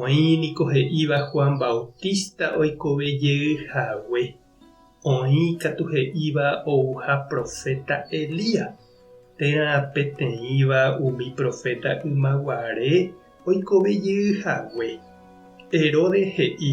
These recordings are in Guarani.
Oĩ niko he'íva Juan Bautista oikove jey hague. Oĩ katu he'íva ouha proféta Elías. Térã peteĩva umi proféta ymaguare oikove jey hague. Herodes he'i,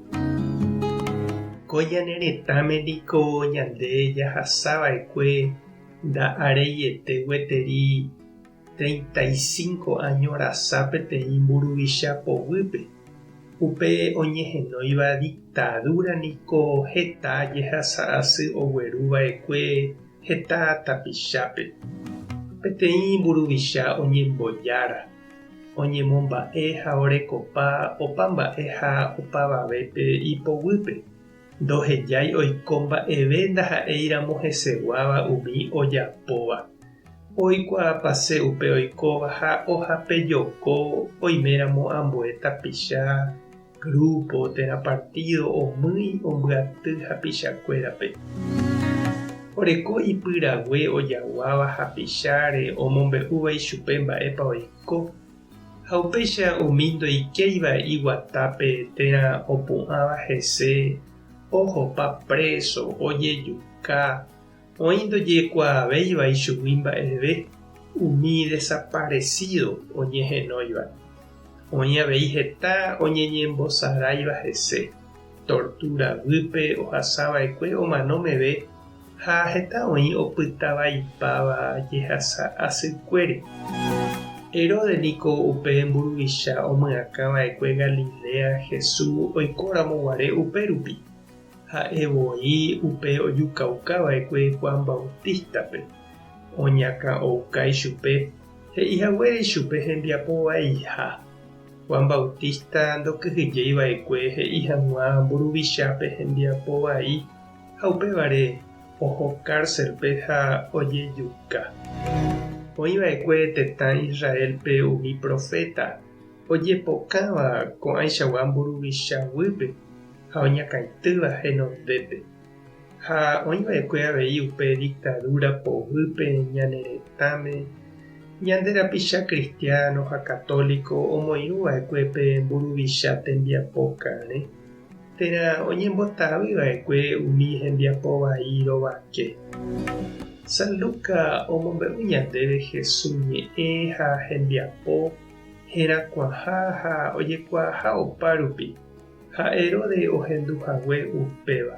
Ko ñane retãme niko ñande jahasa va'ekue nda'areiete gueteri treinta y cinco áño rasa peteĩ mburuvicha poguýpe. Upe oñehenóiva diktadúra niko heta jehasa asy ogueru va'ekue heta tapichápe. Peteĩ mburuvicha oñembojára. oñemomba'e ha orekopa opa mba'e ha opavavépe ipoguýpe, ndohejái oiko mba'eve ndaha'éiramo heseguáva umi ojapóva, oikuaapase upe oikóva ha ohapejoko oiméramo ambue tapicha, Grúpo térã partído omýi ombyaty hapichakuérape. Oreko ipyrague ojaguáva hapicháre omombe'úva ichupe mba'épa oiko, ha upéicha umi ndoikéiva iguatápe térã opu'ãva hese ohopa préso, ojejuka, Oĩ ndojekuaavéiva ichugui mba'eve umi desaparesído oñehenóiva. Oĩ avei heta oñeñembosaráiva hese, tortúra guýpe ohasava'ekue omano meve ha heta oĩ opytavaipáva jehasa asykuére. Herodes niko upe mburuvicha omyakãva'ekue Galilea Jesús oikóramo guare upérupi. Ha'e voi upe ojukaukã va'ekue Juan Bautista-pe, oñakã ouka ichupe, he'i haguére ichupe hembiapo vaiha. Juan Bautista ndokyhyjéi va'ekue he'i hag̃ua mburuvichápe hembiapo vai, ha upévare oho kárselpe ha ojejuka. Oĩ va'ekue tetã Israélpe umi proféta ojepokãva ko'ãichagua mburuvicha guýpe. ha oñakãitýva henondépe, ha oĩ va'ekue avei upe diktadúra poguýpe ñane retãme, ñande rapicha kristiáno ha katóliko omoirũ va'ekue pe mburuvicha tembiapo karẽ, térã oñembotavy va'ekue umi hembiapo vai rovake. San Luca omombe'u ñandéve Hesu ñe'ẽ ha hembiapo, herakuãha ha ojekuaaha opárupi. ha Heróde ohendu hague upéva.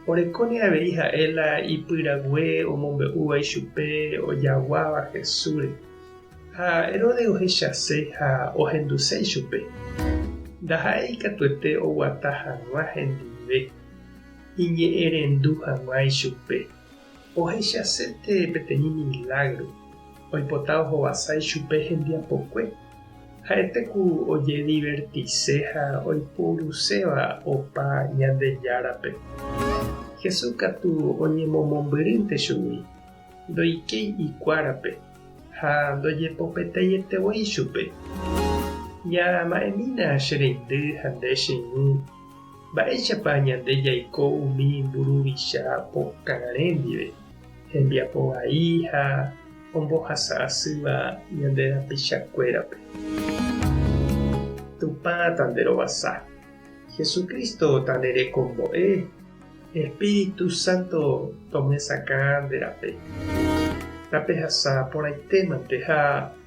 Orekóne avei ha'e la ipyrague omombe'úva ichupe ojaguáva Jesúsre. Ha Heróde ohechase ha ohenduse ichupe. Ndaha'éi ikatuete oguata hag̃ua hendive, iñe'ẽrendu hag̃ua ichupe. Ohechasete peteĩ milágro oipota ohovasa ichupe hembiapokue. Ha'ete ku ojedivertise ha oiporuséva opa Ñandejárape. Jesús katu oñemomombyrýnte chugui, ndoikéi ikuárape ha ndojepopetaite voi chupe. Ñama'ẽmína che reindy ha nde che irũ. Mba'éichapa ñande jaiko umi mburuvicha pokãre ndive, hembiapo vai ha ombohasa asýva ñande rapichakuérape? Tupã tanderovasa. Jesucristo tanerekombo'e. Espíritu Santo tomyesakã nde rape. Tapehasa porãitémante ha